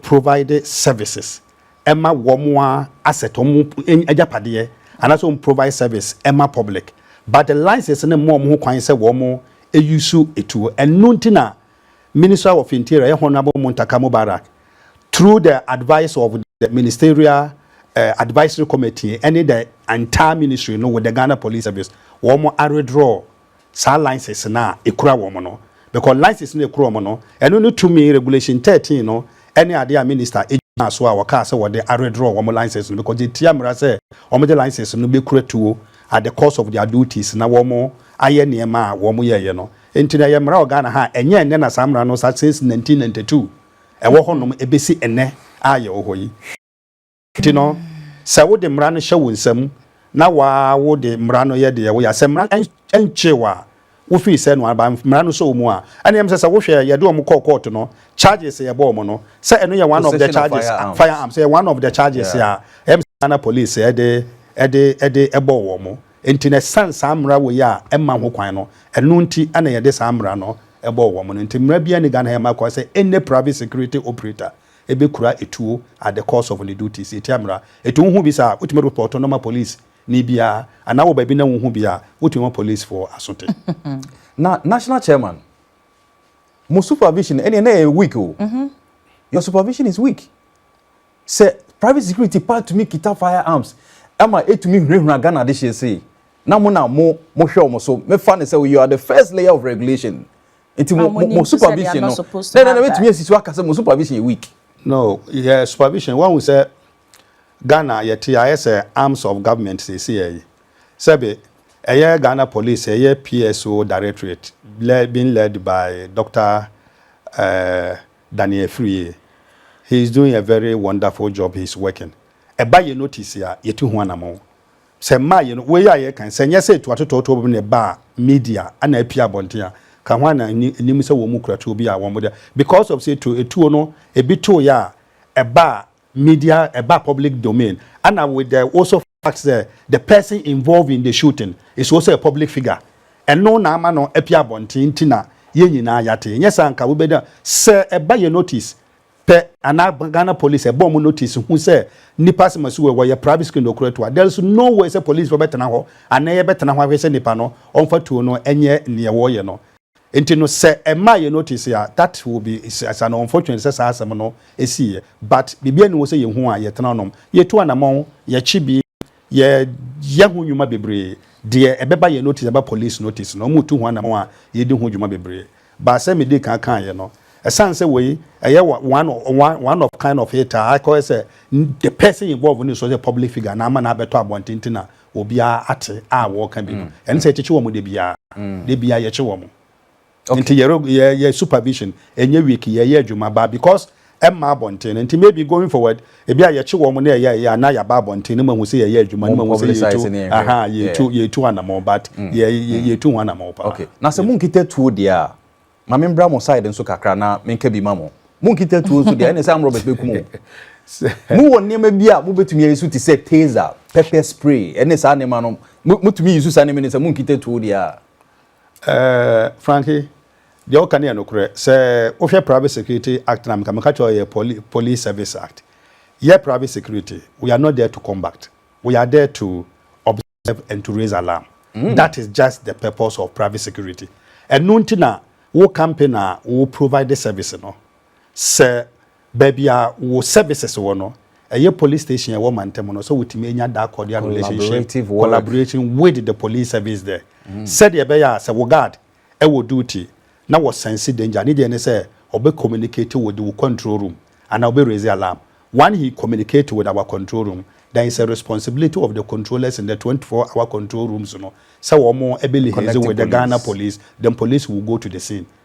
provide services ɛma wɔn a asset wɔn agyapadeɛ anaasɛ wɔn provide service ɛma public but the license no mma wɔn ho kwan sɛ wɔn use etuo ɛno nti na minister of interior yɛ honourable Muntaka Mubarak through the advice of the ministerial uh, advisory committee ɛne the entire ministry no with the Ghana police service wɔn aredraw saa license no a ɛkura wɔn no because license no a ɛkura wɔn no ɛno ne tumi regulation thirteen no ɛne adeɛ a minister gyinaa so a wɔkaa sɛ wɔde aredraw wɔn license no because ɛtia mmara sɛ wɔn de license no bɛkura tuo at the cost of their duties na wɔn ayɛ nneɛma a wɔn yɛɛyɛ no nti na ɛyɛ mmara wɔ Ghana ha ɛnyɛ ɛnɛ na saa mmara no sa since nineteen ninety two ɛwɔ hɔnom ɛbɛsi ɛnɛ a yɛwɔ hɔ yi. Nti no, sɛ wode mmara no hyɛ wo nsam na wo ara wode mmara no yɛ deɛ woyɛ a, sɛ mmara no nkyee wo a, wofii sɛ no ara ba mmara no sɔ wo mu a, ɛnneɛ ɛm sɛ sɛ wohwɛ yɛde wɔn kɔɔ kɔɔto no, charges a yɛbɔɔ wɔn no, sɛ ɛno yɛ one of the charges, fire arms, ɛyɛ one of the charges a ɛm sɛ Ghana Police de de de bɔɔ wɔn. Nti no, ɛsiane saa mmara wei a ɛmma ho kwan no, ɛno nti na yɛde saa mmara no bɔɔ wɔn no. Nti mmara biara nni Ghana ha a ɛma kwan sɛ any private security operator, ebekura etuo at the cost of ne duties etia mmara. Etu wohu bi saa a, wotumi repɔɔto no ma police ni biara anaa wɔ baabi na wohu bi a, wotumi ma police foɔ aso te. Na national chairman, mo supervision ɛneɛ na ɛyɛ weak o. Your supervision is weak. Sɛ private security paa tumi kita fire arms ɛma etumi hunahuna Ghana adehyeɛ sei na mo na mo mo hwɛ wɔn so, me fa no sɛ you are the first layer of regulation nti mo mo mo supervision no na na na wetumi esi so aka sɛ mo supervision yɛ weak. no yɛ supervision wɔn sɛ ghana yɛte ayɛ sɛ arms of government sisi yɛ yi sɛbi ɛyɛ ghana police ɛyɛ pso directorate lɛ being led by doctor ɛɛ eh, daniel firie he is doing a very wonderful job he is working ɛba yɛ notice a yɛtu ho anamɔn Sɛ mmaa yɛ no wei a yɛreka yi, sɛ nyɛ sɛ etu atotɔɔtoo bi na ɛbaa media na apue abɔnten a, ka hwan na nnim sɛ wɔn mu kura tuo bi a wɔn de because of sɛ etu etuo no ebi too yɛ a ɛbaa media ɛbaa public domain ɛna with the also fact sɛ the person involved in the shooting is also a public figure ɛno na ama no apue abɔnten nti na yɛn nyinaa yɛate nyɛ saa nka wobɛda sɛ ɛba yɛ notice pɛ. Ana Ghana police ɛbɔ ɔmo notice hu sɛ nipa asɛm asi wɔ wɔ yɛ private school na okura tuo. There's no way sɛ police fo bɛtena hɔ anaa yɛ bɛtena hɔ ahwɛ sɛ nipa no ɔnfa tuo no ɛnyɛ neɛ wɔyɛ no. Nti no sɛ ɛmaa yɛ notice a that will be is an unfortunate sɛ saa asɛm no ɛsiiɛ but biribiara nni ho sɛ yɛ hu a yɛ tena nom yɛ tu anamɔn yɛ kye bi. yɛyɛ ho nnwuma bebree, deɛ ɛbɛba yɛn notice, ɛba police notice no, wɔretu ho anamɔn a, yɛdi ho dwuma bebree. But sɛ medii kan kaeɛ no, ɛsiane sɛ wei ɛyɛ one, one, one of kind of it a akɔyɛ sɛ the person involved no nsuo sɛ public figure na ama no abɛtɔ abɔnten nti na obiara ate a wɔreka bi no, ɛne sɛ yɛkyekye wɔn da biara, da biara yɛkye wɔn. Okay. Nti yɛ yɛ yɛ supervision ɛnyɛ week yɛ yɛ adwuma ba because ɛmma abɔnten no nti maybe going forward ebi a yɛkye wɔn na ɛyɛ ɛyɛ a na yɛaba abɔnten no ma hu sɛ yɛyɛ adwuma no ma hu sɛ yɛtu aha yɛtu yɛtu anamɔ but mm. yɛ mm. yɛtu ho anamɔ paa. Okay na sɛ mo nkita tuo deɛ a maame mbra mo side nso kakra na menka bi ma mo mo nkita tuo nso deɛ ɛna sɛ amrɔbɛs bɛku mo mo wɔ nneɛma bi a mobɛtumi ayɛ so te sɛ taser pepper spray ɛne saa nneɛma no motumi yi so saa nneɛma no sɛ mo nkita tuo deɛ a Ɛɛɛ Franky, deɛ woka no yɛ nokorɛ. Sɛ wohwɛ Private Security Act no a, nka meka kyerɛ wo ɛyɛ Poli Police Service Act. Yɛ private security, we are not there to combat, we are there to observe and to raise alarm. That is just the purpose of private security. Ɛno nti na wo company a wo provide service no, sɛ Baabi a wo services wɔ no, ɛyɛ police station a ɛwɔ mantam no, sɛ wotumi anya that cordial relationship, collaboration with the police service there, sɛdeɛ ɛbɛyɛ a sɛ wo guard wɔ duty na wɔ sense danger, ne deɛ ne sɛ ɔbɛ communicate with wo control room anaa ɔbɛ raise alarm. One he communicate with our control room, then it's a responsibility of the controllers in the twenty four hour control rooms no sɛ wɔn bɛ liaise with the Ghana police, then police will go to the scene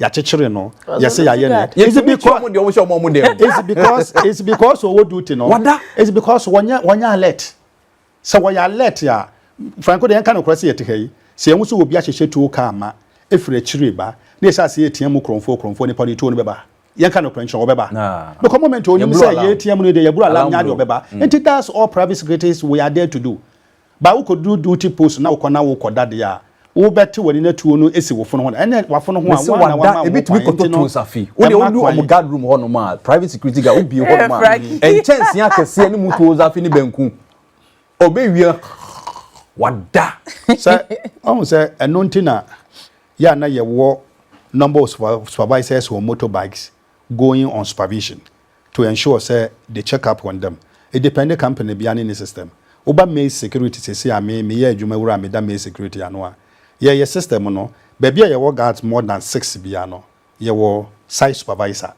yɛakyekyere no yɛsɛ yɛayɛ no it's because it's because it's because ɔwɔ duty no wada it's because wɔnyɛ wɔnyɛ alert sɛ wɔyɛ alert a franco deɛ yɛnka no korɔ sɛ yɛte ha yi sɛ yɛn ho sɛ obi ahyehyɛ tuo kaa ma efiri akyire ba na yɛsɛ ase yɛtia mu kurɔnfoɔ kurɔnfoɔ nipa no tuo no bɛba yɛnka no korɔ nkyɛn wɔbɛba because moment onim sɛ yɛtia mu no deɛ yɛburo alam nya deɛ ɔbɛba nti that's all private secretaries we are there to do Ba wokodu duty post na wokɔ na wokɔ da deɛ a, wo bɛ te wani na tuo no esi wo fono ho da. Ɛnneɛ wafono ho a, Mese woana wada, wama wo ho ebi tumi kwan, kɔtɔ nti no toes afi. Wode ɛmma wodu wɔn kwan. guard room hɔ nom a, private security guard, wobie hɔ nom a, Fraki. nkyɛnsee akɛseɛ ne mu toes afi ne banku. Ɔbɛwie a, wada. Sɛ, wahu sɛ ɛno nti na yɛ a na yɛwɔ number of super, supervisors on motorbikes going on supervision. to ensure sɛ they check up on them. It depend company biara ne ne system. Woba maize security seesei a me meyɛ adwuma wura a meda maize security ano a, yɛyɛ system no, baabi a yɛwɔ guards more than six biara no, yɛwɔ site supervisor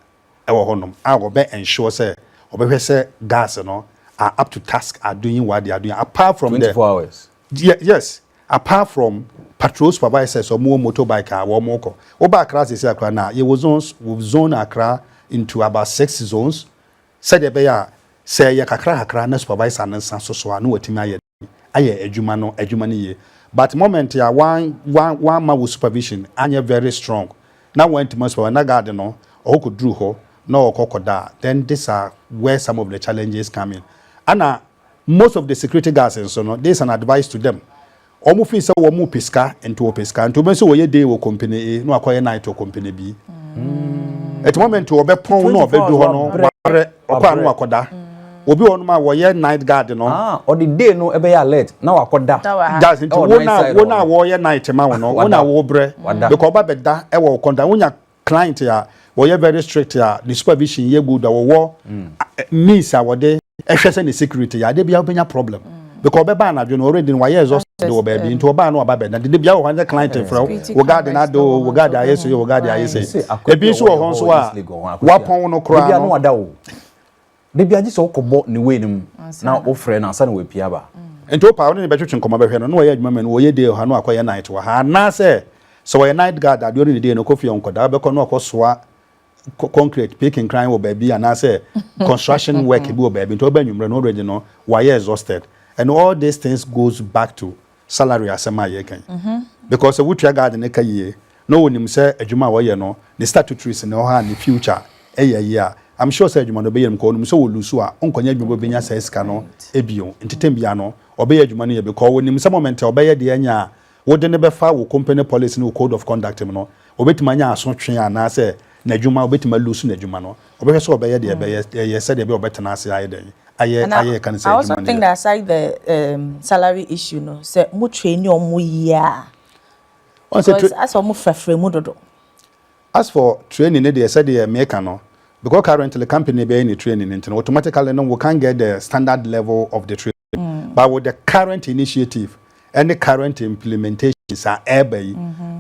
wɔ hɔnom a ɔbɛ ensure sɛ ɔbɛhwɛ sɛ guards no are up to task are doing what they are doing apart from the. Twenty four hours. Ye yes Apart from patrol supervisors a wɔn wɔ motor bike a wɔn kɔ. Wo ba Accra sɛsi akora no a, yɛ wɔ zones, we have zoned Accra into about six zones sɛdeɛ ɛbɛyɛ a sɛ ɛyɛ kakra kakra na supervisor no nsa so so a na watumi ayɛ den ayɛ adwuma no adwuma no yie. But moment a wɔn wɔn wɔn ama wo supervision anyɛ very strong na wɔn antumi supervise na guard no ɔkɔ kɔ duru hɔ na ɔkɔ kɔ da a then this are where some of the challenges come in. Ɛna Most of the security guards nso no this is an advice to them wɔn feel sɛ wɔn pɛ sika nti wɔpɛ sika nti wɔbɛn sɛ wɔyɛ day wɔ company A na wakɔyɛ night wɔ company B ɛti moment wɔbɛ pɔn na ɔbɛ du hɔ no wabrɛ ɔkɔ ano wakɔda obi wɔ nom a wɔyɛ night guard no ɔde day no ɛbɛyɛ alert na wakɔda that's nti wɔn a wɔn a wɔyɛ night ma wɔn no wɔn a wɔbrɛ because ɔba bɛda ɛwɔ wɔn kɔnda wɔn nya client a wɔyɛ very strict a ne supervision yɛ good a wɔwɔ means a wɔde ɛhwɛ sɛ ne security yɛ adeɛ bia wobɛnya problem mm. because ɔbɛba anadwo no already no wayɛ exhausted wɔ baabi nti ɔbaa no ɔba bɛda dede bia wɔ hɔ ne client frɛ wo wo guard no ade o wo guard ayɛ sɛ yɛ wo guard ayɛ sɛ ebi nso wɔ hɔ nso a wapɔn no koraa no Da biara gye sɛ wokɔbɔ ne wei no mu na wofrɛ no ansa na wapia aba. Nti wo paa wode no bɛtwetwe nkɔmmɔ bɛhwɛ no na wayɛ adwuma ma no ɔyɛ day wɔ ha na wakɔyɛ night wɔ ha anaasɛ sɛ ɔyɛ night guard adeɛ ɔne ne day no ɔkɔ fie a ɔnkɔda wobɛkɔ na wakɔsoa concrete pii kenkran wɔ baabi anaasɛ construction work bi wɔ baabi nti ɔba anwummerɛ no already no wayɛ exhausted and all these things goes back to salary asɛm a yɛreka yi because sɛ wotua guard no ka yie na ɔnim sɛ adwuma a ɔyɛ no ne statutories ne ɔha a ne future yɛ yie a I'm sure sɛ adwuma no ɔbɛyɛ no because ɔnim sɛ ɔlusu a ɔnkɔnyɛ adwuma bi a ɔbɛnya saa sika no bio nti time biara no ɔbɛyɛ adwuma no yɛ because ɔnim sɛ moment a ɔbɛyɛ deɛ anya a wode no bɛfa wo company policy ne wo code of conduct mu no Ɔbɛtumi anya asotwe anaasɛ n'adwuma, ɔbɛtumi a lose n'adwuma no. Ɔbɛhwɛ sɛ ɔbɛyɛ deɛ ɛbɛyɛ ɛyɛ sɛdeɛ ɛbɛyɛ a ɔbɛtena ase ayɛ dɛn? Ayɛ And ayɛ yɛka no sɛ I also adwuma no think yɛ. that aside the um, salary issue no, sɛ mo traini ɔmo yie a, Ɔn sɛ because tra- asɛ ɔmo frafra mu dodo. as for training no deɛ sɛdeɛ meka no because currently company bɛyɛ ne training no nti no automatically no we can't get the standard level of the training. but with the current initiative ɛne current implementations a ɛreba yi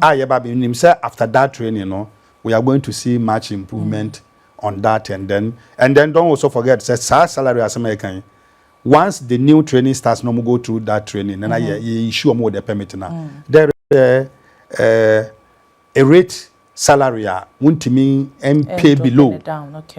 a yɛba bɛ nim sɛ after that training no we are going to see much improvement on that and then and then don't also forget sɛ saa salary asɛm a yɛka yi once the new training starts na wɔn go through that training na na yɛ yɛ issue wɔn wɔ the permit na there is a uh, A rate salary a wontumi mpay below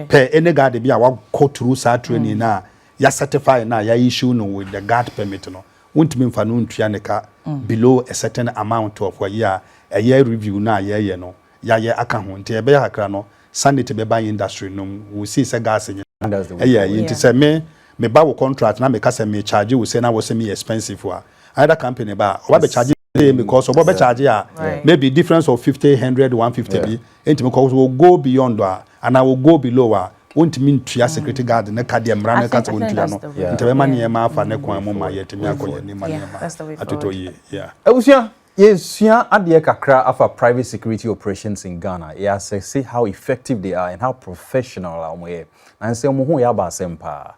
per any guard bi a wakɔ through saa training no a yɛ certify no a yɛ issue no with the guard permit no, wontumi mfa no ntua ne ka below a certain amount of ayi a ɛyɛ review no a yɛɛyɛ no yɛayɛ aka ho. Nti ɛbɛyɛ kakra no sanity bɛba industry no mu. Wo see sɛ gas nyina ɛyɛ ayi nti sɛ me meba wo contract na meka sɛ me charge wo sei na wo se meyɛ expensive a another company ba a ɔba bɛ charge pay me cause ọbọ bẹ charge a maybe difference of fifty hundred one fifty bi ntumi kọ so go beyond a anaa wọ go below a wontumi ntua security mm. guard ne ka deɛ mmara ne ka sɛ wontua no nti bɛma nneɛma afa ne kwan mu ma yɛtumi akɔ yɛn anim ma nneɛma atotɔ yie yeah abusua yɛsua adeɛ kakra afa private security operations in Ghana yɛasɛse how effective they are and how professional a wɔyɛ na nsɛm mu ho yɛ aba asɛm paa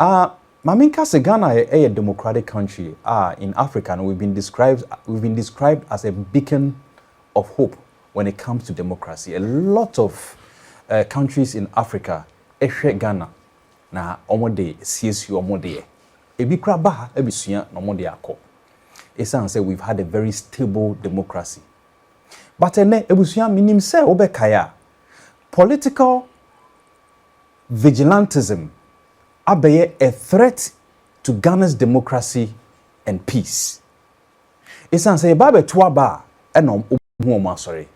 Ah ma menka sɛ Ghana yɛ democratic country a in Africa no we've been described we've been described as a beacon of hope when it comes to democracy a lot of eh countries in Africa hwɛ Ghana na wɔn de siesie wɔn deɛ ebi koraa ba ha abesua na wɔn de akɔ ɛsiane sɛ we've had a very stable democracy but ɛnɛ abusua menim sɛ wobɛkae a political vigilantism abɛyɛ a threat to Ghana's democracy and peace. Esiane sɛ yɛba abɛto aba a ɛna wɔn hu wɔn asɔre.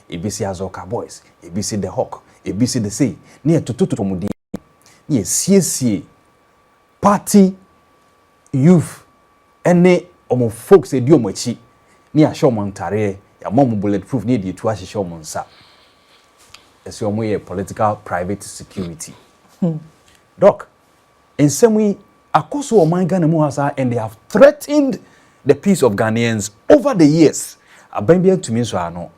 Ebi se Azɔka Boys, ebi se The Hawk, ebi se The Sei, na yɛtotototo wɔn din, na yɛsiesie Party youth ne wɔn folks adi wɔn akyi ne yɛahyɛ wɔn ntareɛ, yɛama wɔn bullet proof ne yɛde atuo ahyehyɛ wɔn nsa sɛ wɔn yɛ political private security. Doc, nsɛm yi akɔ so wɔ ɔman Ghana mu ha saa and they have threatened the peace of Ghanaians over the years. Aban bi antumi nsɔɔ ano.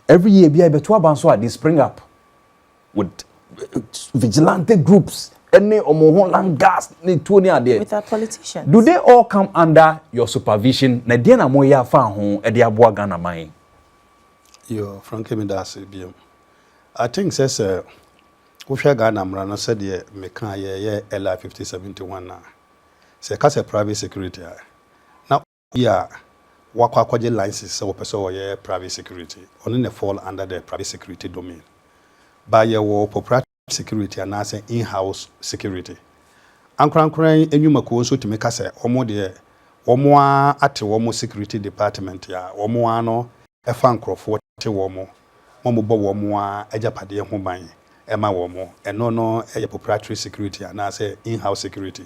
Every year biara yɛbɛto aba nso a they spring up. with vigilante groups ɛne wɔn ho langas ne tuo ne adeɛ with our politicians do they all come under your supervision na ɛdeɛ na mo yɛ afa ho ɛde aboa Ghana man. yoo frankie mi da ase bi mu I think sɛ sɛ wohwɛ Ghana mmara no sɛdeɛ meka yɛyɛ LI fifty seventy one na sɛ ɛka sɛ private security a na. Bi a wakɔ akɔgye license sɛ wɔpɛ sɛ ɔyɛ private security, ɔno na fall under the private security domain. But yɛwɔ corporative security anaasɛ in-house security. Ankorankora yi nnwuma kuo nso tumi ka sɛ wɔn deɛ wɔn ara ate wɔn security department a wɔn ara no fa nkorɔfoɔ te wɔn ma wɔn bɔ wɔn ara agyapadeɛ ho ban ma wɔn, ɛno no yɛ proprietary security anaasɛ in-house security.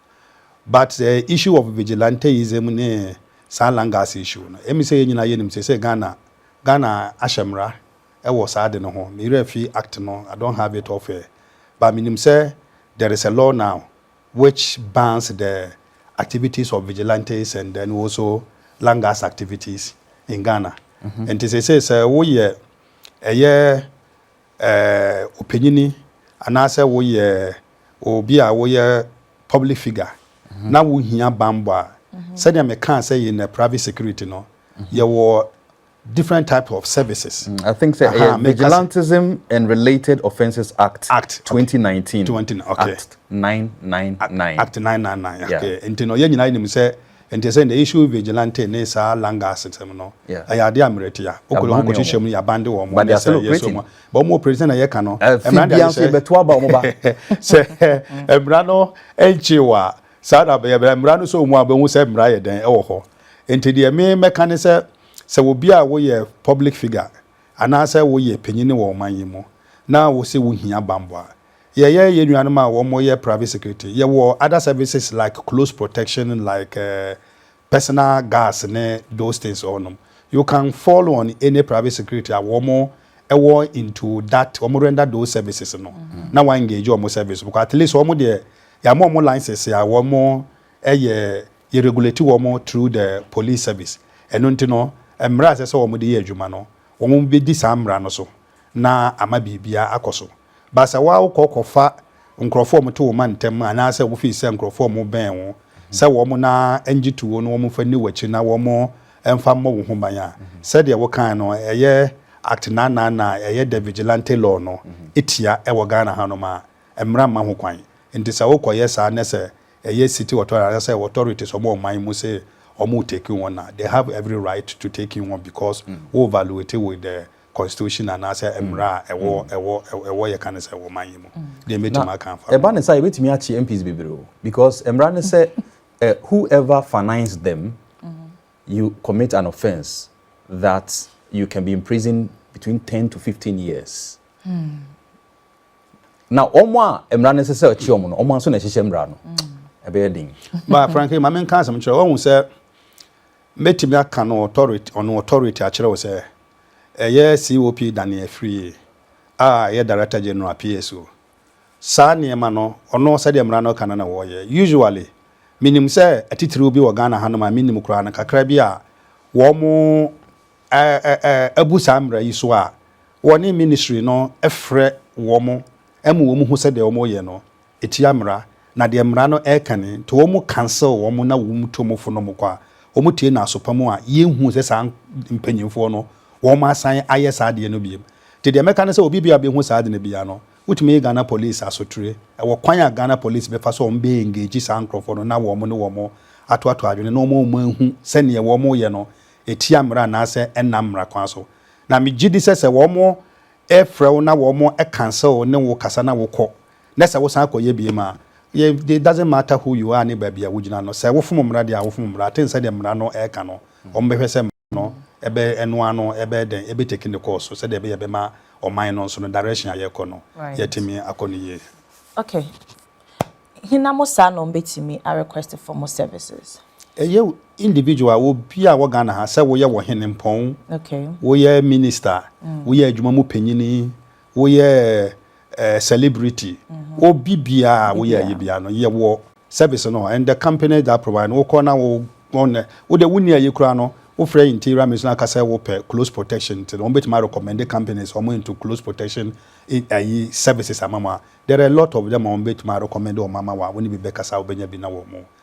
but the issue of vigilanteism ne saa langas issue no emi sɛ yɛn nyinaa yɛnim sɛ sɛ Ghana Ghana ahyɛ mmara ɛwɔ saa ade no ho me werɛ fi act no I don't have it off air but menim sɛ there is a law now which bans the activities of vigilantes and then also langas activities in Ghana nti sɛ sɛ sɛ woyɛ ɛyɛ ɔpanyin anaasɛ woyɛ obi a woyɛ public figure na wohia bammɔ a, sɛdeɛ mekaa sɛ yɛn private security no, yɛwɔ different types of services. Mm, I think say uh, Vigilantism and Related Offences Act, Act 2019. 20, okay. Act 999. Act 999. Yeah. Okay. Nti no yɛn nyinaa nim sɛ Nti ɛsɛ the issue vigilante ne saa langa asetem no ɛyɛ adeɛ a mmerɛ tia wokɔ wɔn kɔ hyehyɛ mu no yɛabande wɔn mo ɛnɛ sɛ yɛsɔ mu but wɔn operate sɛna yɛka no mmara de ayɛ sɛ sɛ mmara no nkye wɔ a saa na bɛyɛ bɛyɛ mmara no sɛ wɔn a bɛhu sɛ mmara yɛ dɛn ɛwɔ hɔ nti deɛ me mɛka ne sɛ sɛ obi a woyɛ public figure anaasɛ woyɛ panyini wɔ ɔman yi mu na wose wohia bambɔ a Yɛyɛ yɛn nuanom a wɔyɛ private security, yɛwɔ other services like close protection like personal guards ne those things hɔnom. You can fall on any private security a wɔwɔ into that, wɔn render those services no na wa engage wɔn service no because at least wɔn deɛ yɛama wɔn license a wɔn yɛ yɛ regulate wɔn through the police service. Ɛno nti no mmara a ɛsɛ sɛ wɔn de yɛ adwuma no wɔn bɛdi saa mmara no so. na ama biribiara akɔ so. But sɛ woa wokɔ kɔfa nkurɔfoɔ a wɔto wo ma ntɛm anaasɛ wo feel sɛ nkurɔfoɔ a wɔbɛn wo sɛ wɔn na ngye to wo no wɔn mfa nni w'akyi na wɔn mfa mmɔ wo ho ban a, sɛdeɛ wokaeɛ no ɛyɛ Act naanan na ɛyɛ the Vigilante Law no tia wɔ Ghana hanom a, mmara mma ho kwan. Nti sɛ wokɔyɛ saa na sɛ ɛyɛ city authority anaasɛ authorities wɔn wɔ ɔman mu se wɔn retake wo on a, they have every right to take you on because wo valuate wo the Constitution anaasɛ mmara a ɛwɔ ɛwɔ ɛwɔ yɛka no sɛ ɛwɔ man yi mu. Deɛ mɛtumi aka afa ho. Ɛba ne saa yɛbɛtumi akye MPs bebree o because mmara ne sɛ whoever finance them you commit an offence that you can be imprisoned between ten to fifteen years. Na wɔn a mmara no ɛsɛ sɛ ɔkye wɔn no wɔn nso na ɛhyehyɛ mmara no ɛbɛyɛ den. Ba Frankie maame nka asɛm kyerɛ wɔn sɛ. Mɛtumi aka no authority on authority akyerɛ wo sɛ ɛyɛ COP dane afiri a ɛyɛ Director General, PSO. Saa nneɛma no, ɔno sɛdeɛ mmara no ka no na wɔyɛ. Usually, menim sɛ atitiriw bi wɔ Ghana hanom a mennim koraa no, kakra bi a wɔn abu saa mmara yi so a, wɔne Ministry no frɛ wɔn ma wɔn hu sɛdeɛ wɔyɛ no. Etia mmara, na deɛ mmara no ɛka ni, nti wɔn cancel wɔn na wɔn to mofo nom kɔ a, wɔn tie no aso pa mu a, yɛn huu sɛ saa mpanyinfoɔ no wɔn asan ayɛ saa adeɛ no biom. Nti deɛ mɛka ne sɛ obi biara bɛhu saa ade no biara no, wotumi yɛ Ghana police asotire. Ɛwɔ kwan a Ghana police bɛfa so a wɔn bɛ engage saa nkorɔfoɔ no na wɔn ne wɔn ato ato adwene na wɔma wɔn ahu sɛ neɛ wɔn reyɛ no etia mmara anaasɛ ɛnnam mmara kwan so. Na megye di sɛ sɛ wɔn ɛfrɛ wo na wɔn cancel ne wo kasa na wokɔ na sɛ wosan kɔyɛ bio a, it doesn't matter who you are ne baabi a wogyina no, sɛ wofom mmara deɛ a, wofom mmara. Aten sɛdeɛ mmara no ɛreka no, wɔbɛhwɛ sɛ mmara no ɛbɛ, ɛno ara no ɛbɛyɛ dɛn, ɛbɛteki ne course so sɛdeɛ ɛbɛyɛ ɛbɛma ɔman no nso no direction a yɛrekɔ no, yɛatumi akɔ no yie. Okay. Hena mo saa na wɔbɛtumi a request for mo services? Ɛyɛ individual, obi a wɔ Ghana ha, sɛ woyɛ wɔ Hene Mpɔn, Okay. woyɛ Minister, woyɛ adwuma mu panyini, Woyɛ eh, celebrity. Wo bibia a woyɛ ayi bia no, yɛ wɔ service no and the company that provide no wokɔ na wo wɔn wo de wonni ayi kura no wofrɛ interior ministry aka sɛ wopɛ close protection nti no wɔn betumi recommend companies wɔn into close protection ayi services ama mu a there are a lot of them a wɔn betumi recommend wɔn ama wɔn a wɔn ne bi bɛkasa a wɔbɛnya bi na wɔn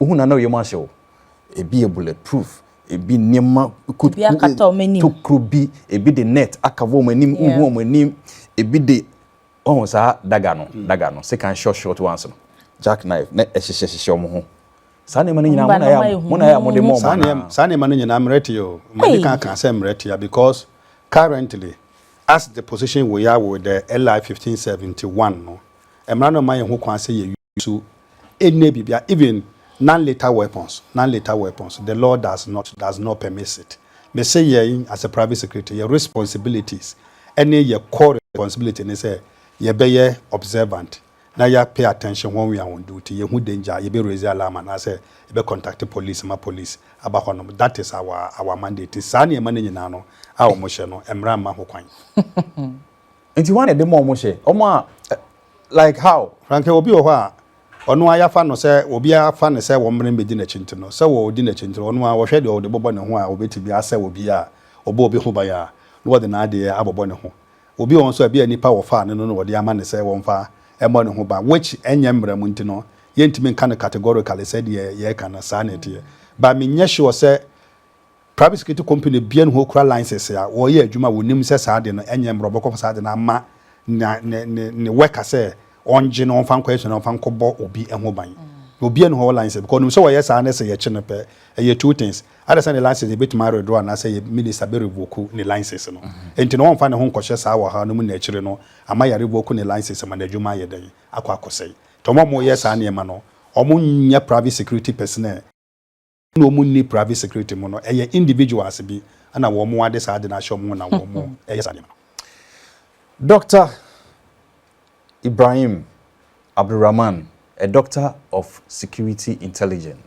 Wohu no a na wo yam ahye wo. Ebi yɛ bullet proof, ebi nneɛma kuruku tokuro bi, ebi de net akava wɔn anim, wohu wɔn anim, ebi de ɔho saa daga no, mm. daga no, sekan short short ones no, jack knife, na ɛhyehyɛ hyehyɛ wɔn ho. Saa nneɛma no nyinaa mo na yɛ mo na yɛ mo de mo ɔmo na. Saa nneɛma no nyinaa mmerɛ te o, mmerɛ kan kan sɛ mmerɛ te because currently as the position we are with the LI fifteen seventy one no, mmara no ma yɛn ho kwan sɛ yɛ. so ɛnyɛ biribiara even non lethal weapons non lethal weapons the law does not does not permits it me se yɛn as a private security yɛ responsibilities ɛne yɛ core responsibility ne sɛ yɛbɛyɛ observant na yɛ pay attention when we are on duty yɛ hu danger yɛ bɛ raise alarm anaasɛ yɛ bɛ contact police ma police aba hɔ nom that is our our mandate saa nneɛma no nyinaa no a wɔn hyɛ no mmara mma ho kwan. Nti hwan na ɛde ma wɔn hyɛ? Wɔn a like how? Franke, Obi wɔ hɔ a ɔno ara yɛafa no sɛ obi a wɔafa no sɛ wɔmmra mmɛdi n'akyi nti no, sɛ wɔredi n'akyi nti no ɔno ara ɔhwɛ deɛ ɔde bɛbɔ ne ho a ɔbɛtumi asɛ obi a ɔbɔ obi ho ban a na ɔde n'adeɛ abobɔ ne ho. Obi wɔ hɔ nso a ebia nnipa a wɔfaa no no na wɔde ama no sɛ wɔmfa mmɔ ne ho ban which ɛnyɛ mmara mu nti no yɛntumi nka no categorically sɛ deɛ yɛreka no saa na ɛteɛ but menyɛ sure sɛ Private security company bia ne hɔ kura license a wɔyɛ adwuma a wɔnim sɛ saa ade no ɛnyɛ mmrɛ wɔbɛkɔfa saa ade no ama ne ne ne ne worker sɛ ɔngye na ɔmfa nkɔ asua na ɔmfa nkɔbɔ obi ho ban na obia ne hɔ license because ɔnim sɛ wɔyɛ saa ne sɛ yɛkye no pɛ ɛyɛ two things ada sɛ ne license yɛbɛtumi aredoro anaasɛ yɛ minister bɛ revoke ne license no enti na ɔmfa ne ho nkɔhyɛ saa ɔhaw no mu na akyire no ama yɛ revoke ne license ma n'adwuma ayɛ dɛn akɔ akɔsɛe nti ɔmo a ɔmo yɛ saa nneɛma no ɔmo nyɛ private security personnel na wɔn nni private security mu no ɛyɛ individuals bi na wɔn ade saa ade no ahyɛ wɔn ho na wɔn ɛyɛ saa nneɛma no. Doctor Ibrahim Abdulrahman, a doctor of security intelligent.